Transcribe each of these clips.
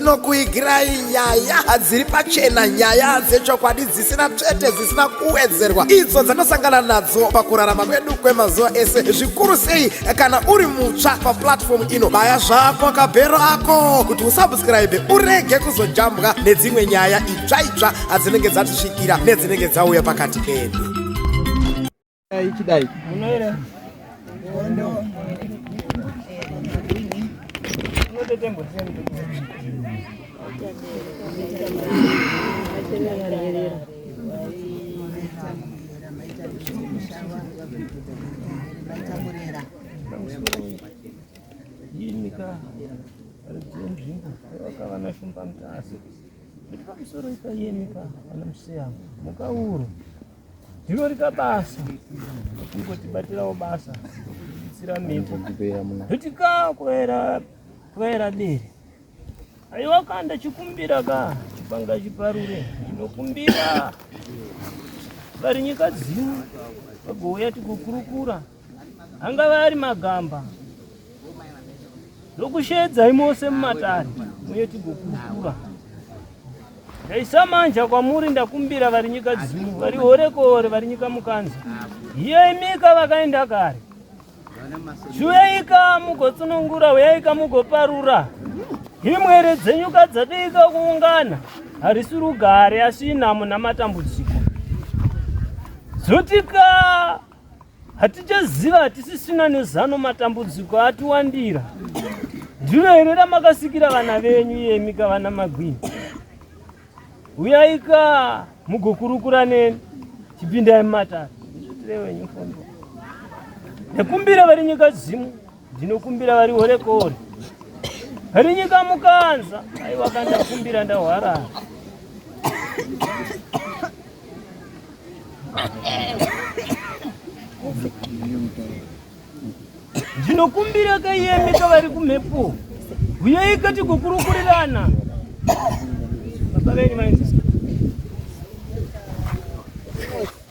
inokuigirai nyaya hadziri pachena nyaya dzechokwadi dzisina tsvete dzisina kuwedzerwa idzo dzanosangana nadzo pakurarama kwedu kwemazuva ese zvikuru sei kana uri mutsva paplatfomu ino baya zvako kabhero ako kuti usabskraibe urege kuzojambwa nedzimwe nyaya idzi tsvaitsva adzinenge dzatisvikira nedzinenge dzauya pakati pedu ichidai munoera Ini kah, ada jam jam, kalau kawan aku pamit asik. Pamusoro ipa yemi ka anomusiya mukauro ndiro rika basa kungotibatirawo basa kutsira mhepo kuti ka kuera kuera dere aiwa ka ndachikumbira ka chipanga chiparure ndinokumbira vari nyika dzino vagouya tikukurukura angava ari magamba ndokusheedzai mose mumatare uye tigokurukura ndaisamanja kwamuri ndakumbira vari nyika dzino vari horekore vari nyika mukanza hiye imika vakaenda kare chiuyaika mugotsunungura uyaika mugoparura himwere dzenyuka dzadiika kuungana harisi rugare asi inhamo namatambudziko dzotika Hatichaziva, hatisisina nezano, matambudziko atiwandira. Ndiro here ramakasikira vana venyu iyemi ka vana magwini? Uyaika mugokurukura neni, chipindai mumatare. Ndizvitire wenyu fondo. Nekumbira vari nyika dzimu. Ndinokumbira vari hore kore. Hari nyika mukanza. Aiwa kandakumbira ndahwara. Ndinokumbira kaiyemi kavari kumhepo. Huyai kati kukurukurirana. Baba venyu mainzi. Thank you.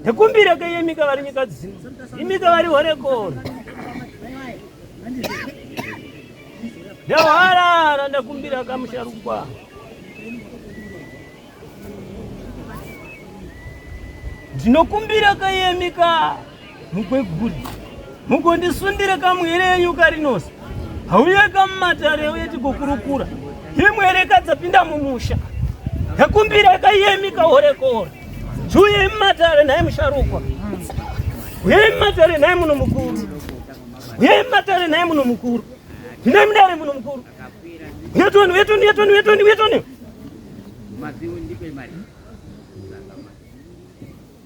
ndikumbire ke yemi ka vari nyika dzino imi ka vari horekoro ndahwarara ndakumbira ka musharukwa ndinokumbira ka yemi ka mukweguri mugondisundire kamwere yenyu karinosi hauye kamumatare uye tigokurukura imwere kadzapinda mumusha yakumbira kaiyemi kahorekore juye mumatare naye musharukwa uye mumatare naye muno mukuru uye mumatare naye muno mukuru ndine mudare muno mukuru uyetoni uyetoni uyetoni uyetoni uyetoni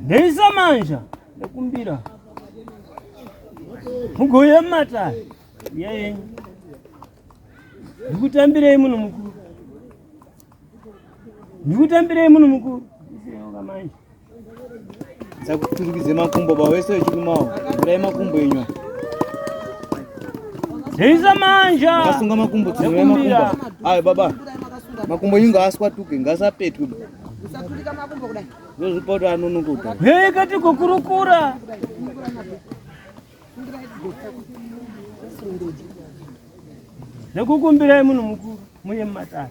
Deisa manja nekumbira mugoya mata yeye ndikutambirei munhu mukuru ndikutambirei munhu mukuru manje Dzakuturikidze makumbo ba wese wechikumawo. Kurai makumbo enyu. Hisa manja. Asunga makumbo tsira makumbo. Ayo baba. Makumbo inga aswa tuke ngasapetwe. Usaturika makumbo kudai. Ndozvipoto anonokuta. Hey kati kukurukura. Nekukumbirai munhu mukuru muye mumatare.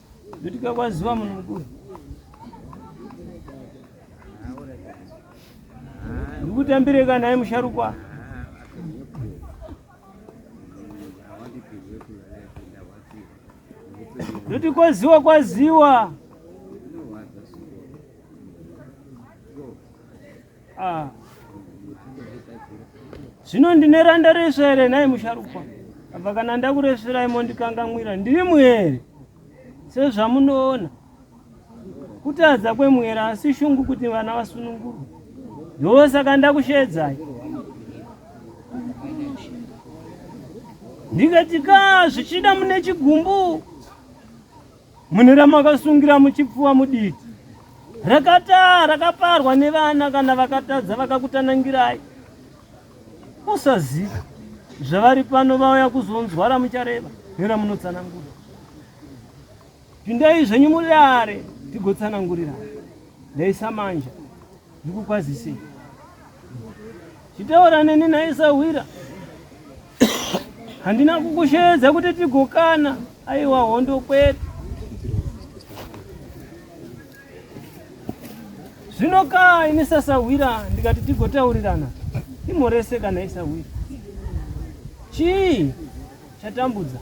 Kutika kwaziva munhu mukuru. Ndikutambire kana naye musharukwa. Kuti kwaziwa kwaziwa. Ah. Zvino ndine randa resu here nhai musharukwa? Apa kana ndakureserai mondikangamwira ndiri muhere sezvamunoona. Kutadza kwemuhere asi shungu kuti vana vasunungurwe. Ndosaka ndakusheedzai. Ndikati ka zvichida mune chigumbu Mune ramakasungira muchipfuwa mudiki rakataa rakaparwa nevana kana vakatadza vakakutanangirai usaziva zvavari pano vauya kuzonzwa ramuchareva neramunotsanangura pindai zvenyu mudare tigotsanangurira ndaisa manja Ndikukwazisei. Chitaura neni nhai sahwira. Handina kukusheedza kuti tigokana. Aiwa hondo kwete. Zvino kaa ini sasahwira ndikati tigotaurirana. Imhorese kana isahwira. Chii chatambudza?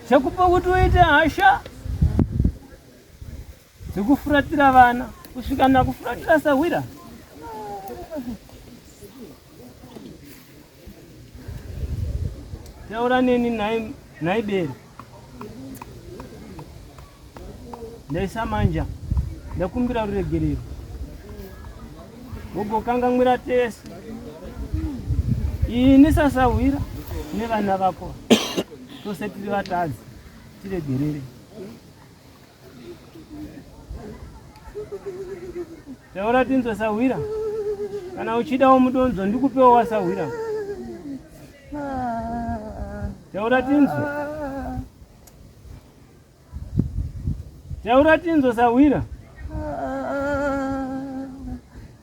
Chakupa kuti uite hasha dzekufuratira vana kusvika nakufuratira sahwira taura neni nhai bere ndaisa manja ndakumbira ruregerero wogokangamwira tese ini sasahwira nevana vako tose tiri vatadzi tiregerere taura tinzwe sahwira kana uchidawo mudonzo ndikupewo wasahwira taura tinzwe taura tinzwe sahwira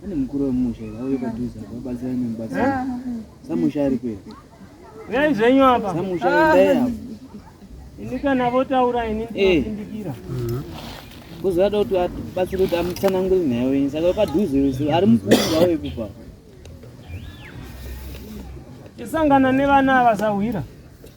Pane mukuru wemusha vauye padhuze apa vabatsira nemubatsira. Ah. Samusha ari kwedu. Uyai zvenyu apa. Samusha endai ah. apa. Ini kana votaura ini eh. ndinopindikira. Mhm. Kuzoda kuti abatsire kuti amutsanangure nyaya yenyu saka padhuze ari mukuru vauye kubva. Tisangana nevana ava sahwira.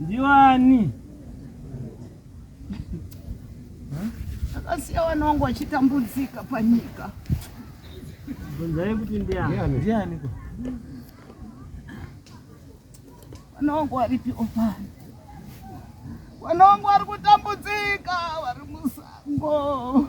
Ndiwani. Akasiya wana wangu achitambudzika panyika. Bvunzai kuti ndiani. Ndiani ko? Wana wangu waripi opani? Wana wangu wari kutambudzika, wari musango.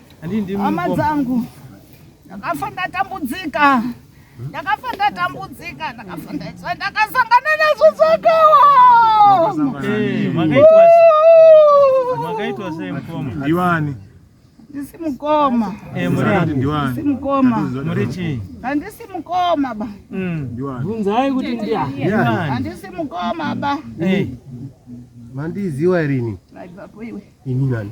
hama dzangu ndakafa ndatambudzika ndakafa ndatambudzika ndakafa ndaiswa ndakasangana nazvo zvakawa ndiwani ndisi mukoma eh, ndisi mukoma handisi mukoma ba mm. bvunzai kuti ndiani handisi mukoma ba eh. mandiziwa irini ini nani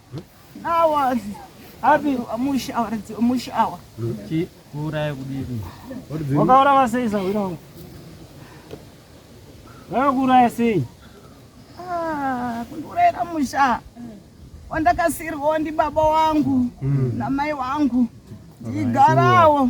Awa. Abi amushi awa ridzi amushi awa. Chi kuuraya kudini? Wakaura vasei sahwira wangu. Vakakuuraya sei? Ah, kundiuraya kamusha. Wandakasirwa ndi baba wangu mm. na mai wangu. Ndigarawo.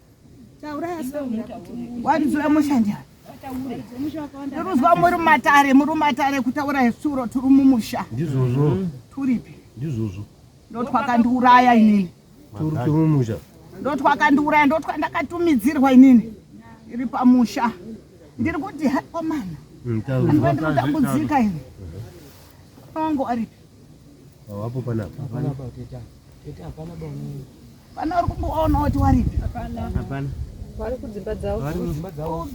Waridzura musha njani? Ndiruzwa muri matare, muri matare kutaura hesuro turi mumusha. Ndizvozvo. Turipi? Ndizvozvo. Ndotwakandiuraya inini. Turi turi mumusha. Ndotwakandiuraya ndotwandakatumidzirwa inini. Iri pamusha. Ndiri kuti hakomana. Mm, Ndotambuzika ini. Ongo aripi? Hawapo panapa. Panapa teta. Teta hapana bwana. Pana uri kumboona kuti waripi? Hapana. Hapana. Vari kudzimba dzavo. Vari kudzimba dzavo.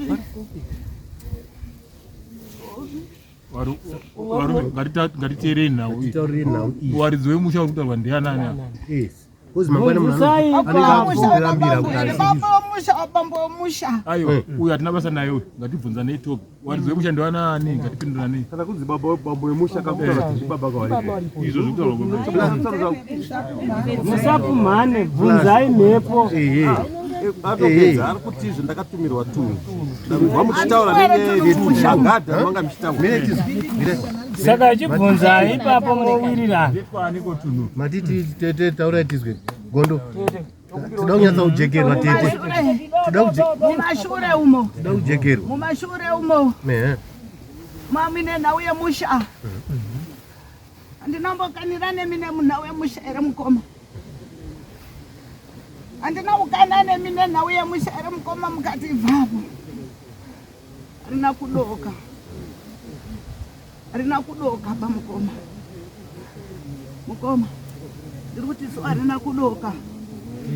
ngatiteerei nhau waridzi wemusha uri kutaurwa ndianani uyu hatina basa naye uyu ngatibvunzanei topi wanzi wekushandiwa nani ngatipindurane kana kunzi baba bambo yemusha kakutaura kuti ndibaba kawaripo izvo zvekutaura musapumhane bvunzai mhepo atopedza ari kuti izvo ndakatumirwa tunhu ndakuva muchitaura nenyayayekushangada manga muchitaura saka achibvunza ipapo mowirirana matiti tete taurai tizwe gondo Toda kunyatsa kujekerwa tete. Toda kujekerwa. Mumashure umo. Toda kujekerwa. Mumashure umo. Ehe. Mami nenhau yemusha. Andinombokanira nemi nemunhau yemusha here mukoma? Andina kukana nemi nenhau yemusha here mukoma mukati ibvapo. Rina kudoka. Rina kudoka ba mukoma. Mukoma. Ndiri kuti so arina kudoka.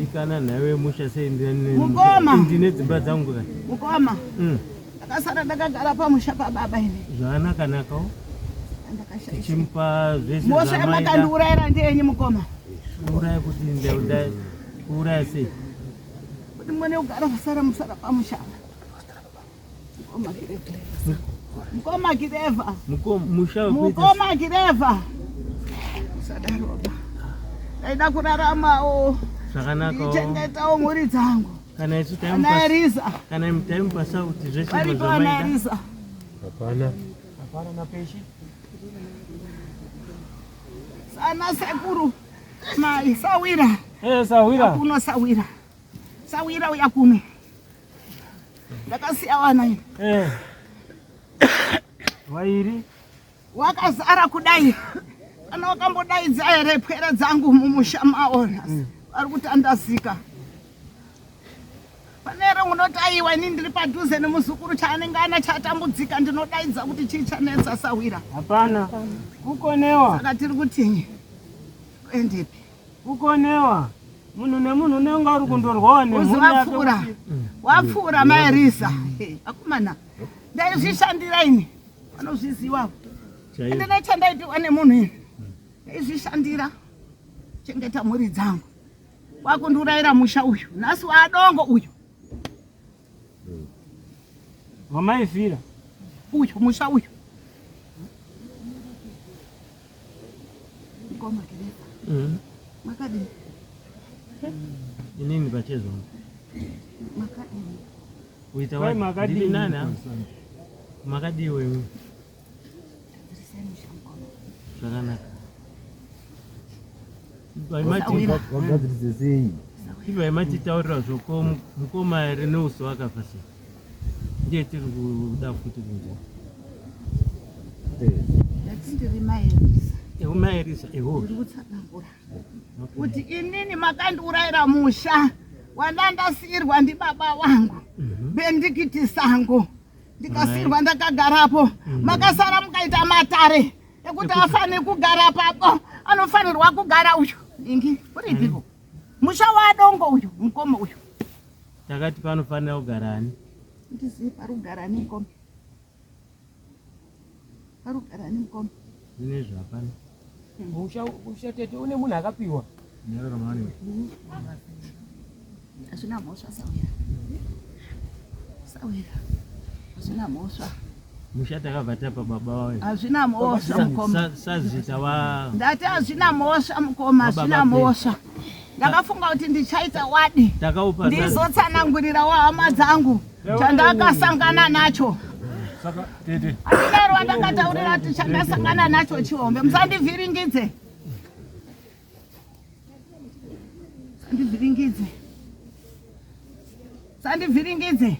Ikana nawe musha sei ndine mukoma. Ndine dzimba dzangu ka. Mukoma. Mm. Akasara ndakagara pamusha pa baba ini. Zvana kanaka. Tichimupa zvese. Mosha yamakandiurayira ndeyenyi mukoma. Uraya kuti ndauda uraya sei? Kuti mone ugara musara musara pamusha. Mkoma Kireva. Mkoma Kireva. Mkoma Kireva. Sadaroba. Ndaida kuraramawo. Zvakanaka. Ndichengetawo mhuri dzangu. Kana isu taimupa. Kana Eriza. Kana taimupa sauti zvese zvamaita. Varipo ana Eriza. Hapana. Hapana na peshi. Sana sekuru. Mai sawira. Eh sawira. Kuno sawira. Sawira uya kuno. ndakasiya vana ini eh. wairi wakazara kudai kana wakambodaidza here pwere dzangu mumusha mawo mm. vari kutandazika pane here unotaiwa ini ndiri padhuze nemuzukuru chaanenge ana chatambudzika ndinodaidza kuti chii chanetsa sahwira hapana kukonewa saka tiri kutinyi kuendepi kukonewa munhu nemunhu unenge uri kundorwawa nemuapfuura wapfuura maerisa akomana ndaizvishandira ini vanozviziva ende nechandaipiwa nemunhu ini ndaizvishandira chengeta mhuri dzangu wakundiurayira musha uyu nhasi waadongo uyu wamaifira uyu musha uyu Mkoma Kirisa. Mm. Makadini? Inini pachezo. Makadini. Uita wapi? Makadini nani? Makadini wewe. Zvakanaka. Vagadzirise sei? Ivo yamatitaurira zvoko mukoma here neuso wakafa sei? ndiye tiri kuda futi kunzwa eumaerisa ehokutsanangura kuti inini makandiurayira musha wandandasiirwa ndibaba wangu mhm. bendikiti sango ndikasiirwa ndakagarapo mhm. makasara mukaita matare ekuti afane kugara papo anofanirwa kugara uyu ingi uripiko musha wadongo uyu mukoma uyu Takati panofanira kugara ani? Ndizii parugara ani mukoma? Parugara ani mukoma? Zvinezvi hapana. Musha musha tete une munhu akapiwa. Nyarara mani. Hazvina mhosva sawira. Sawira. Hazvina mhosva. musha takabva tapa baba vayo hazvina mhosva mukoma sazita va ndati hazvina mhosva mukoma hazvina mhosva ndakafunga kuti ndichaita wadi ndizotsanangurira wahama dzangu chandakasangana nacho andinaro wandakataurira kuti chandasangana nacho chihombe musandivhiringidze Sandivhiringidze. Sandivhiringidze.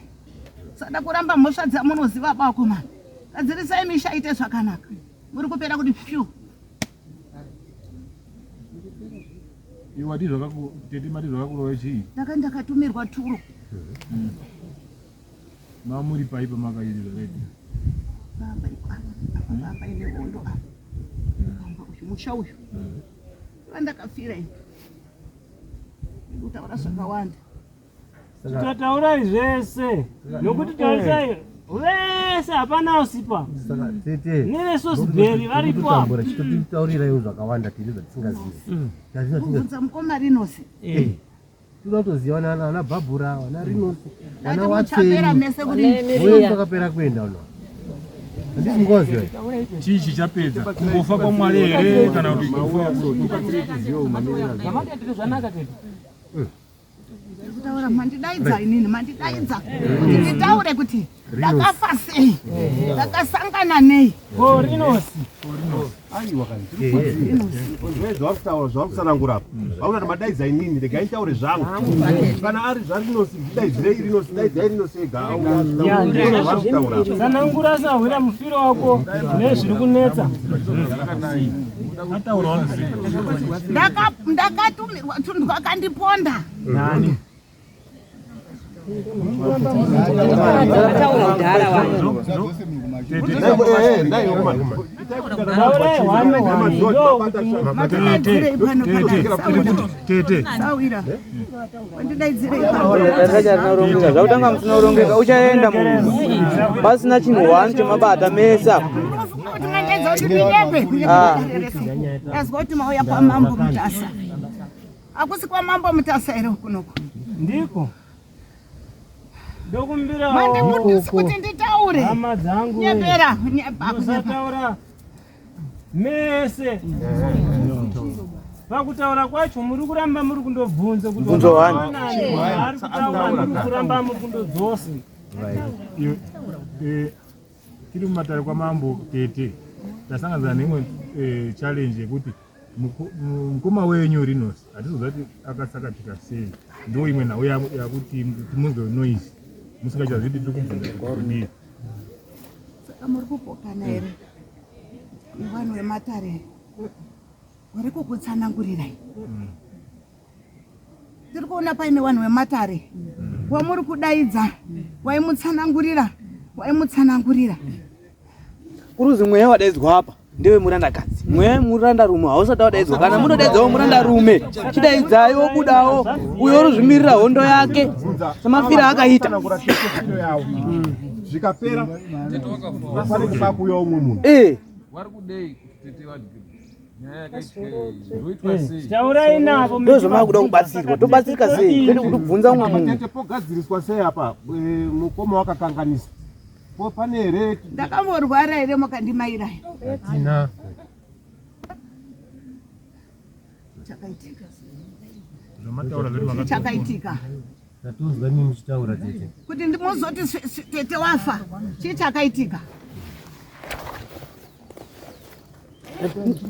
Sada kuramba mhosva dzamunoziva bako mani. Gadzirisai misha ite zvakanaka. Muri kupera kuti pyu. Iwe wadii zvakaku tete mati zvakakurova chii? Ndaka ndakatumirwa turo. Mm. Mamuri pai pamakamirira red. Baba ikwana. Apa baba ine hondo apa. Baba uyu musha uyu. Vandakafira ini. Ndikutaura zvakawanda. Tataurai zvese. Nokuti tarisai vese hapana usipa. Saka tete. Nere sosiberi varipo apa. Tambura chitotaurirai zvakawanda tiri zvatisingazivi. Tazvina tinga. Mukoma rinosi. Eh. Tunotozivana ana Barbara, ana Rinos, ana Watson. mese kuri Wewe pakapera kuenda uno. Handisi ngozi wewe. chii chichapedza kungofa kwamwari here kana kuti kufa kutaura mandidaidza inini mandidaidza kuti nditaure kuti ndakafa sei ndakasangana nei korinosi aiwa kazvakutaura zvakutsanangura apa vakuta madaidzai nini regai ntaure zvangu kana ari zvarinosi daidzirei rinosi daidzai rinosi egasanangura sahwira mufiro wako nezviri kunetsa ndakatumirwa tunhu vakandiponda zvakutanga musina kurongeka uchaenda mumba pasina chinhu wani chemabata mese apo ah. azwa kuti mauya kwamambo mutasa Akusi kwa mambo mutasa here kunoku? Ndiko. Ndokumbira wo. Mande mutisi kuti nditaure. Hama dzangu. Nyepera, nyepera. Musataura. Mese. Pakutaura kwacho muri kuramba muri kundobvunza kuti wani. Ari kutaura muri kuramba muri kundodzosa. Right. Eh, tiri mumatare kwamambo tete tasangana neimwe eh, challenge yekuti mukoma wenyu rinos hatizoziva kuti akasakatika sei ndo imwe nhau yakuti timunzwe noise musingachazivi kuti tikubvunzakudii saka muri kupokana here ivanhu vematare vari kukutsanangurirai mm. tiri kuona paine vanhu vematare wamuri kudaidza waimutsanangurira waimutsanangurira kuruzi mweya wadaidzwa apa ndewe murandakadzi mweya yemuranda rume hausati wadaidzwa kana munodaidzawo muranda rume chidaidzai wobudawo uyo oruzvimirira hondo yake semafira akaita zvikapera pane kuba kuuya umwe munhu eh. taurai navo ndozvamakuda kubatsirwa tobatsirika sei tete kuti kubvunza umwe munhu pogadziriswa sei apa eh, mukoma wakakanganisa po pane here ndakamborwara here mukandimairaya atina chakaitika chakaitika Ndatonzwa imi muchitaura tete. Kuti ndimozoti tete wafa. Chii chakaitika?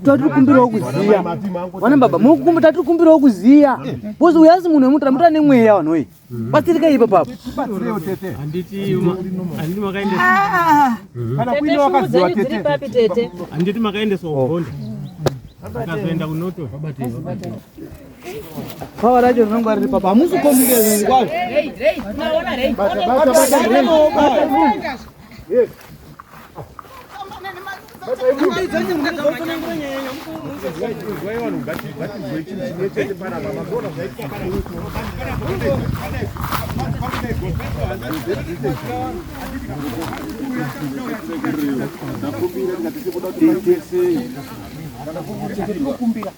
tatiri kumbirawo kuziya vana baba mukumba tatiri kumbirawo kuziya bcoz uyu asi munhu wemutara mutara nemweya vanhu oyi batsirika ipa papo handiti makaendeswa ugonda akazoenda kunoto Bhawa racho rinonga riri papa hamusi kombike zvinhu kwazvo Thank you.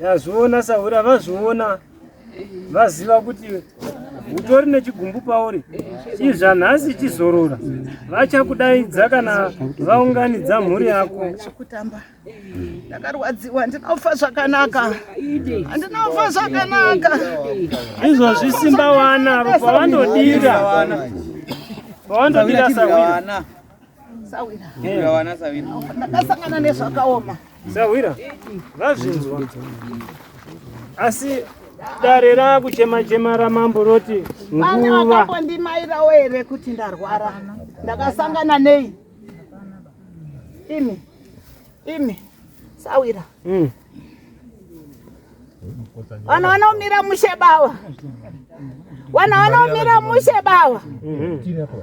Yazviona sahura vazviona vaziva kuti utori nechigumbu pauri chizva nhasi chizorora vachakudaidza kana vaunganidza mhuri yako chekutamba ndakarwadziwa handina kufa zvakanaka handina kufa zvakanaka izvozvi simba wana avo pavanodira pavanodira sahura ndakasangana nezvakaoma sahwira vazvinzwa asi dare rakuchema chema ramambo roti vane vakambondimairawo here kuti ndarwara ndakasangana nei imi imi sawira mm. vana vanaomira mushe bawa vana vanaomira mushe bawa mm-hmm.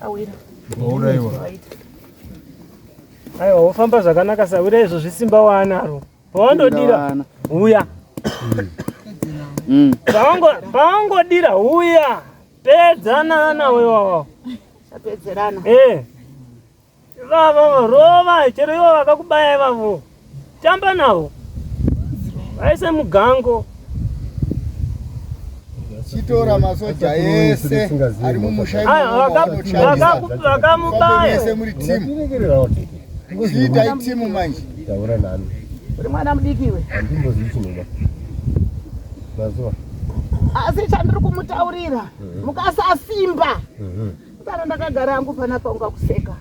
Sawira. Wauraiwa. Aiwa wofamba zvakanaka sawira izvo zvisimba waanaro. Pawandodira uya. Mm. Pawangodira uya. Pedzana nawe wawa. Tapedzerana. Eh. Ivavo rova chero ivo vakakubaya ivavo tamba navo vaise mugango. chitora masoja ese ari mumusha Aya, imomo vaka- vanoshandisa. vakaku- Fambei vakamubaya mese muri timu Ndatiregererawo tete. chiitai timu manje Taura nani. uri mwana mudiki iwe Handimbozivi chinoda. Mazuva. asi chandiri kumutaurira mukasasimba Kana ndakagara hangu panapa ungakuseka.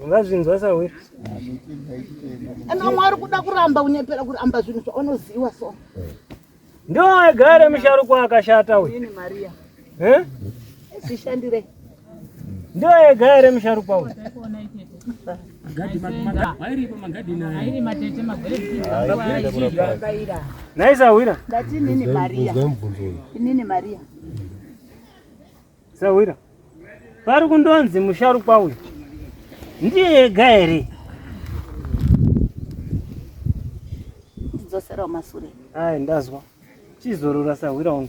Ungazvinzwa sawe. Ana mwari kuda kuramba unyepera kuramba zvinhu zvaunoziwa so. Ndio agare musharukwa akashata uyu. Ini Maria. Eh? Zvishandire. Ndio ega ere msharukwa huyu. Naisa wira. Dati nini Maria. Nini Maria. Sawira. Pari kundonzi musharukwa uyu. Ndiye ega here? Ndidzosera masure. Ai ndazwa. Chizorora sahwira wangu.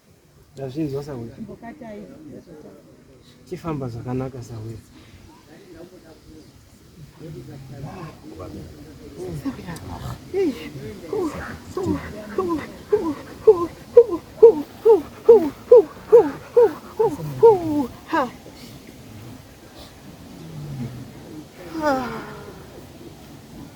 Ndazvinzwa sahwira. Chifamba zvakanaka sahwira.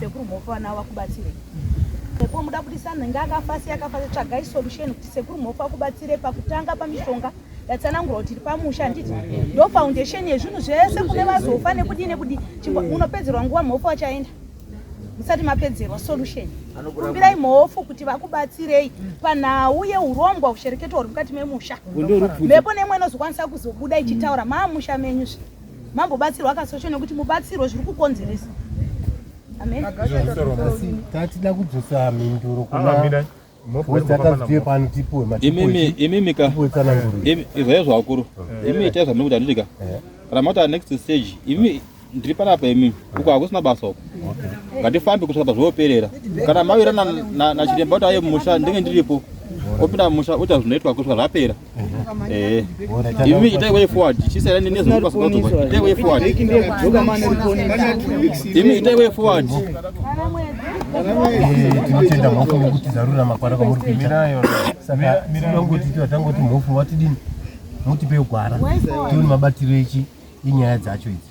Sekuru Mhofu vana avo vakubatsirei? Sekuru muda kuti sanhenge akafa sei akafa sei? Tsvagai solution kuti Sekuru Mhofu vakubatsirei pakutanga pamishonga yatsanangura kuti iri pamusha handiti ndo foundation yezvinhu zvese kune vazofa nekudii nekudii chimbo unopedzerwa nguva Mhofu vachaenda musati mapedzerwa solution kumbirai mhofu kuti vakubatsirei panhau yeurombwa ushereketo huri mukati memusha mhepo nemwe inozokwanisa kuzobuda ichitaura maamusha menyu zve mambobatsirwa kasosho nekuti mubatsirwo zviri kukonzeresa tatida kudzosa mhinduro kuna izvaiyo zvavakuru imi itai zvamiri kuti andidika kana mauta next stage imi ndiri panapa imi uko hakusina basa uko ngatifambi kusvika pazvooperera kana mawira nachiremba kuti aye mumusha ndenge ndiripo opinda mumusha oita zvinoitwa kusvika zvapera Ivi itai way forward. She said nini zvokupa sikoto. Itai way forward. Imi itai way forward. Tinotenda mhofu nekuti zarura makwara kwamuri kuita. Saka tinongoti tangoti mhofu watidini? Mutipe gwara. Tione mabatiro echi inyaya dzacho idzi.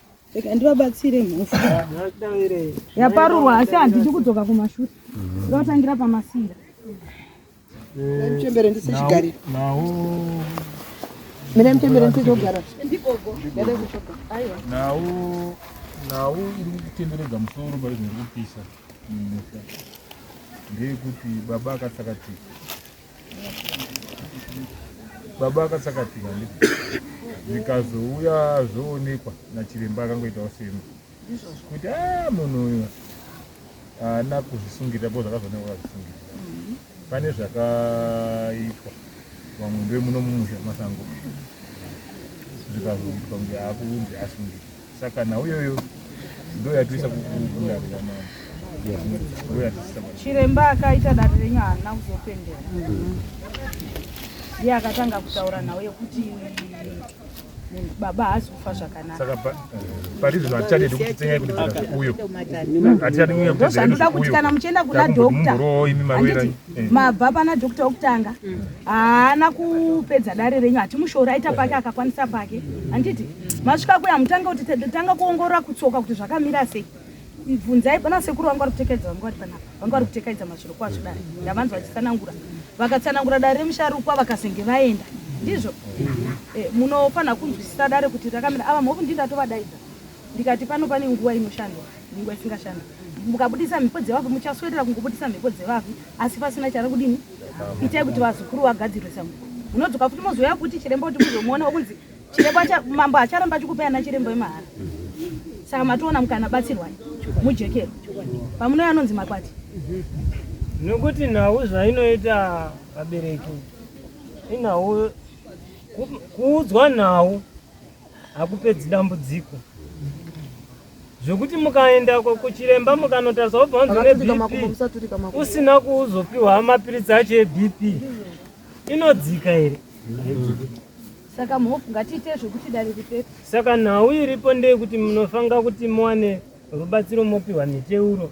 rega ndivabatsire mhofu yaparurwa asi handidi kudzoka kumashure ndotangira pamasira mchembere ndisichigarira mina mchembere ndisichogara nhau nhau iri kutenderedza musoro paizviri kupisa mumusha ndeyekuti baba akatsakatika Baba akasakatira ndipo zvikazouya zvoonekwa nachiremba akangoitawo semu kuti a ah, munhu uyu haana kuzvisungirira po zvakazoonekwa akazvisungirira mm-hmm. pane zvakaitwa vamwe ndoe muno mumusha masango zvikazoitwa kunge akuunzi asungirira Saka nhau iyoyo ndoyatiisa kukundarira mama chiremba akaita dare renyu haana kuzopendera iye akatanga kutaura nhau yekuti baba haasi kufa zvakanakandosandura kuti kana muchienda kuna dokta Eh. mabva pana doctor wokutanga mm. haana kupedza dare renyu hatimushoori aita pake eh. akakwanisa pake handiti masvika kuya mutanga kuti tanga kuongorora kutsoka kuti zvakamira sei bvunzai pana sekuru vanga vari kutekedza vanga vari panapa vanga vari kutekaidza mazviro kwazvo dare ndavanzwa vachitsanangura vakatsanangura dare remusharukwa vakazenge vaenda ndizvo eh, munofanira kunzwisisa dare kuti rakamira ava movu ndindatovadaidza ndikati pano pane nguva inoshandwa nenguva isingashanda mukabudisa mhepo dzevafi muchaswedera kungobudisa mhepo dzevafi asi pasina chari kudini itai kuti vazukuru vagadzirwe samu munodzoka futi mozouya kuti chiremba kuti muzomuona wakunzi chiremba mambo acharamba achikupai ana chiremba wemahara saka matoona mukana batsirwai mujekero pamunouya anonzi makwati nokuti nhau zvainoita vabereki inhau kuudzwa nhau hakupedzi dambudziko zvekuti mukaenda kuchiremba mukanotariswa kubva unzi une bp usina kuzopiwa mapiritsi acho ebp inodzika here saka mhofu ngatiite zvekuti dare ripepe saka nhau iripo ndeyekuti munofanira kuti muwane rubatsiro mopiwa miteuro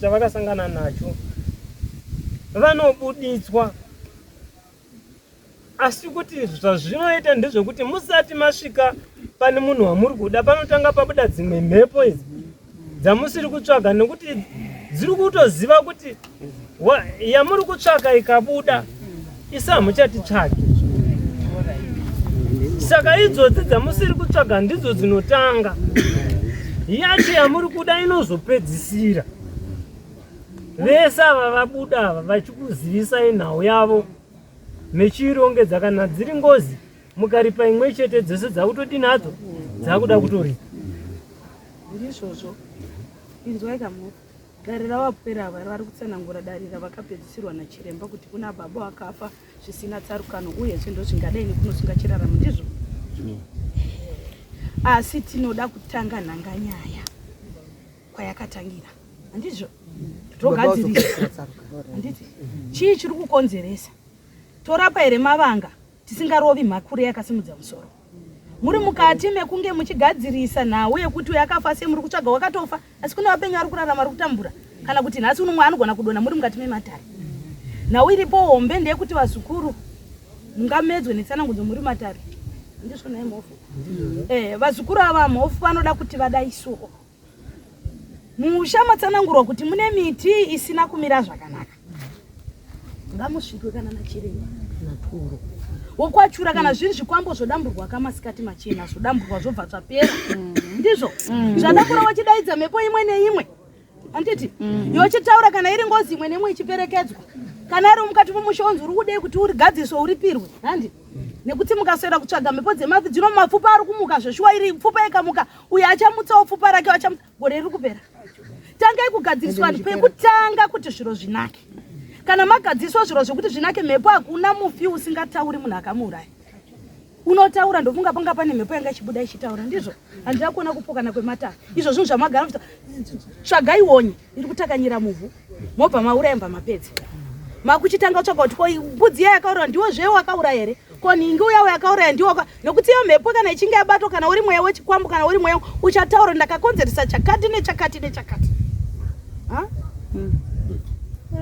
chavakasangana nacho vanobuditswa asi kuti zvazvinoita ndezvekuti musati masvika pane munhu wamuri kuda panotanga pabuda dzimwe mhepo idzi dzamusiri kutsvaga nekuti dziri kutoziva kuti yamuri kutsvaka ikabuda isi hamuchatitsvaki saka idzodzi dzamusiri kutsvaga ndidzo dzinotanga yacho yamuri kuda inozopedzisira vese ava vabuda ava vachikuzivisai nhau yavo mechiirongedza kana dziri ngozi mukaripa imwe chete dzese dzakutodi nadzo dzakuda kutoripa ndizvozvo inzwai kamuti Dare ravapwere ava vari kutsanangura dare ravakapedzisirwa nachiremba kuti kuna baba vakafa zvisina tsarukano uyezve ndozvingadai nekunosunga chiraramo ndizvo mm. asi tinoda kutanga nhanga nyaya kwayakatangira handizvo togadzirisa handiti chii chiri kukonzeresa torapa here mavanga tisingarovi mhakure yakasimudza musoro muri mukati mekunge muchigadzirisa nhau yekuti uyo akafa sei muri kutsvaga wakatofa asi kune vapenyu vari kurarama ri kutambura kana kuti nhasi unomwe anogona kudona muri mukati mematare nhau iripo hombe ndeyekuti vazukuru mungamedzwe netsanangudzo muri matare ndizvo nai mhofu eh, vazukuru ava mhofu vanoda kuti vadai soo Musha matsanangurwa kuti mune miti isina kumira zvakanaka. Ngamusvikwe kana nachiremba naturo wokwachura kana zviri zvikwambo zvodamburwa kamasikati machena zvodamburwa zvobva zvapera mm. ndizvo mm. zvadakura wachidaidza mhepo imwe neimwe handiti mm. yochitaura kana iri ngozi imwe neimwe ichiperekedzwa kana ari mukati momusha onzi uri kudei kuti urigadziriswe uripirwe handi nekuti mukaswera kutsvaga mhepo dzemafi dzino mapfupa ari kumuka zveshuwa iri pfupa ikamuka uyo achamutsawo pfupa rake achamutsa gore riri kupera tangai kugadziriswa vanhu pekutanga kuti zviro zvinake kana magadziriswa zviro zvekuti zvinake mhepo hakuna mufi usingatauri munhu akamuuraya unotaura ndofunga panga pane mhepo yanga ichibuda ichitaura ndizvo handida kuona kupokana kwematara izvo zvinhu zvamagara tsvagai wonye iri kutakanyira muvhu mobva mauraya mva mapedza makuchitanga kutsvaga kuti ko mbudzi iya yakauraya ndiwo zve wakauraya here ko nhingi uya uyakauraya ndiwo nokuti iyo mhepo kana ichinge yabatwa kana uri mweya wechikwambo kana uri mweya uchataura ndakakonzeresa chakati nechakati nechakati hmm.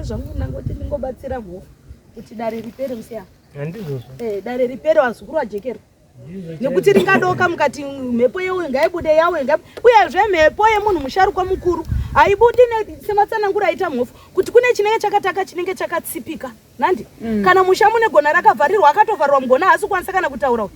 zvangu ndangoti ndingobatsira mhofu kuti dare ripere musiya handizvozvo eh, dare ripere vazukuru vajekerwa nekuti ringadoka mukati mhepo yewe ngaibude yawe uyezve mhepo yemunhu musharukwa mukuru haibudi sematsanangura aita mhofu kuti kune chinenge chakataka chinenge chakatsipika nandi mm. kana musha mune gona rakavharirwa akatovharirwa mugona haasi kukwanisa kana kutaura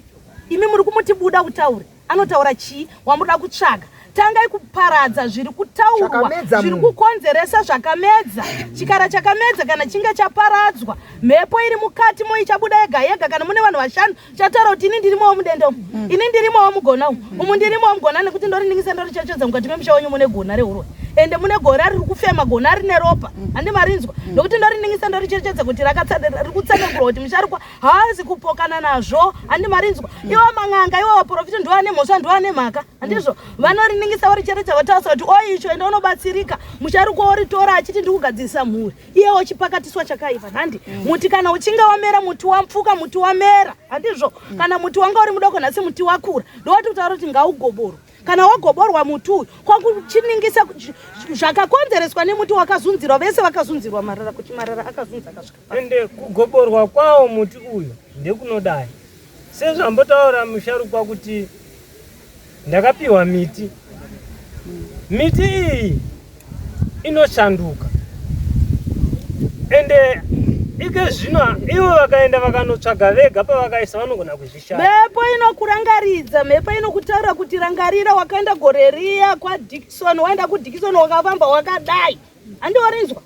imi muri kumuti buda kutaure anotaura chii wamuda kutsvaga tangai kuparadza zviri kutaurwa zviri kukonzeresa zvakamedza chikara chakamedza kana chinge chaparadzwa mhepo iri mukati mo ichabuda yega yega kana mune vanhu vashanu chataura kuti ini ndirimowo mudenda umu mm. ini ndirimowo mugona umu umu ndirimowo mugona nekuti ndoriningisa ndorichechedza mukati memusha wenyu mune gona reurwe ende mune gore riri kufema gona rine ropa mm. handi marinzwa mm. nokuti ndoriningisa ndorichechedza kuti riri kutsanangurwa kuti musharukwa haazi kupokana nazvo handi marinzwa iwo man'anga iwo vaprofita ndiwo ane mhosva ndiwo ane mhaka handizvo vanoriningisa vari chete chavatarisa kuti o icho ende unobatsirika musharukwa woritora achiti ndiri kugadzirisa mhuri iyewo chipakatiswa chakaipa handi mm. muti kana uchinge wamera muti wapfuka muti wamera handizvo mm. kana muti wanga uri mudoko nhasi muti wakura ndowati kutaura kuti ngaugoborwa kana wagoborwa muti uyu kwakuchiningisa zvakakonzereswa nemuti wakazunzirwa vese vakazunzirwa marara kuti marara akazunza akasvika ende kugoborwa kwawo muti uyu ndekunodai Sezvambotaura musharukwa kuti ndakapiwa miti. Miti iyi inoshanduka. Ende ike zvino ivo vakaenda vakanotsvaga vega pavakaisa vanogona kuzvishaya. Mhepo inokurangaridza, mhepo inokutaura kuti rangarira wakaenda gore riya kwaDickson, waenda kuDickson wakafamba wakadai. Handiwarinzwa.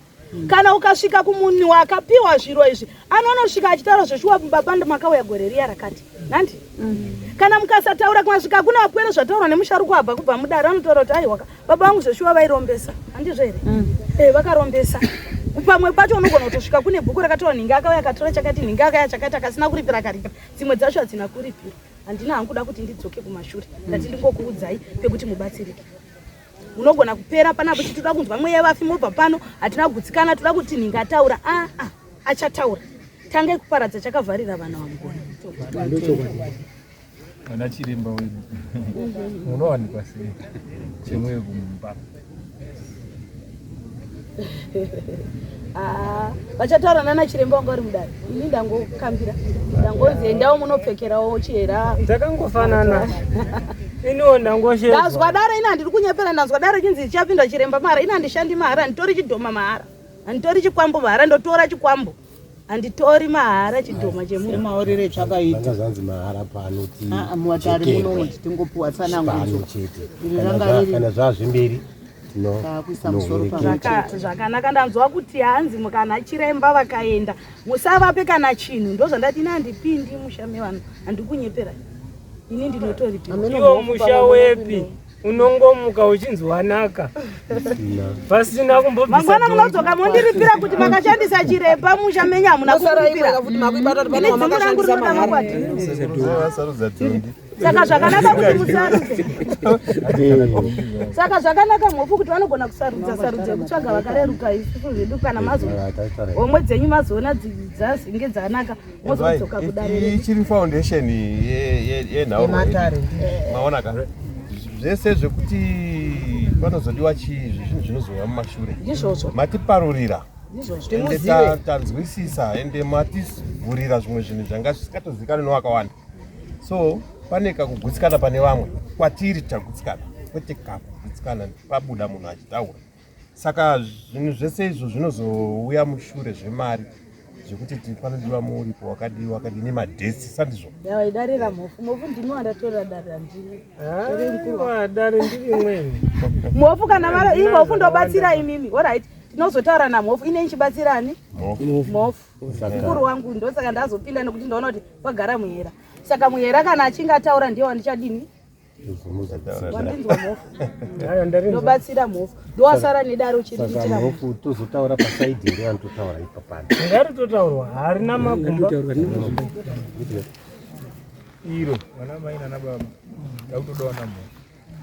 kana ukasvika kumunhu wakapiwa zviro izvi anonosvika achitaura zveshuwa baba makauya gore riya rakati nandi mm. kana mukasataura kumasvika kuna apwere zvataurwa nemusharukwa abva kubva mudare anotaura kuti aiwaka baba vangu zveshuwa vairombesa handizvo here mm. eh, vakarombesa pamwe pacho unogona kutosvika kune bhuku rakataura nhinga akauya akatora chakati nhinga akaya chakati akasina kuripira akaripira dzimwe dzacho hadzina kuripira handina hangu kuda kuti ndidzoke kumashure ndati ndingokuudzai pekuti mubatsirike unogona kupera panapo chitoda kunzwa mweya vafi mobva pano hatina kugutsikana toda kuti ninga ataura aa ah, ah, achataura tange kuparadza chakavharira vana vamugona ana chiremba wedu munowanikwa sei chemweyo kumumba Ah, vachataura nana chiremba wanga uri mudare ini ndangokambira ndangonzi endawo munopfekerawo chihera takangofanana iniwo ndangoshe ndazwa dare ini handiri kunyepera ndanzwa dare chinzi chapinda chiremba mahara ini handishandi mahara handitori chidhoma mahara handitori chikwambo mahara ndotora chikwambo Anditori mahara chidhoma chemunhu. Maorere chakaita. Vanga zvanzi mahara pano ti. Ah, ah muwatari muno tingopuwa tsana ngudzo. Pano chete. Kana zvazvi mberi zvakanaka ndanzwa kuti hanzi mukana chiremba vakaenda musavape kana chinhu ndozvandati ini handipindi musha mevanhu handikunyepera ini ndinotoripimusha wepi unongomuka uchinzi wanaka pasina kumbomangwana munodzoka mondiripira kuti makashandisa chiremba musha menyu hamuna saka zvakanaka kuti musarudze saka zvakanaka mhofu kuti vanogona kusarudza sarudza kutsvaga vakareruka isusu zvedu kana mazo homwe dzenyu mazoona dzazinge dzanaka mozodzoka kudare chiri foundation yenhaumatare eh. maona ka zvese zvekuti panozodiwa chii zvinhu zvinozouya mumashure izvozvo matiparurira ende tanzwisisa ende mativhurira zvimwe zvinhu zvanga zvisikatozivikanwe nowakawanda so pane kakugutsikana pane vamwe kwatiri tagutsikana kwete kakugutsikana pabuda munhu achitaura saka zvinhu zvese izvo zvinozouya mushure zvemari zvekuti tifanodiwa muripo wakadii wakadii nemadhesi sandizvo daidarira mhofu mhofu ndimi wandatorera dare andiri dare ndiri imweni mhofu kana vara i mhofu ndobatsira imimi orit tinozotaura namhofu ine ichibatsira ani mhofu mukuru wangu ndosaka ndazopinda nekuti ndaona kuti vagara muhera saka muhera kana achinge ataura ndiye wandichadini wandinzwa mhofu ndobatsira mhofu ndowasara nedaro chiriitira mhofu tozotaura pasaidi here vanhu totaura ipapana ngari totaurwa harina magumba iro vana mai nana baba ndakutodawana mhofu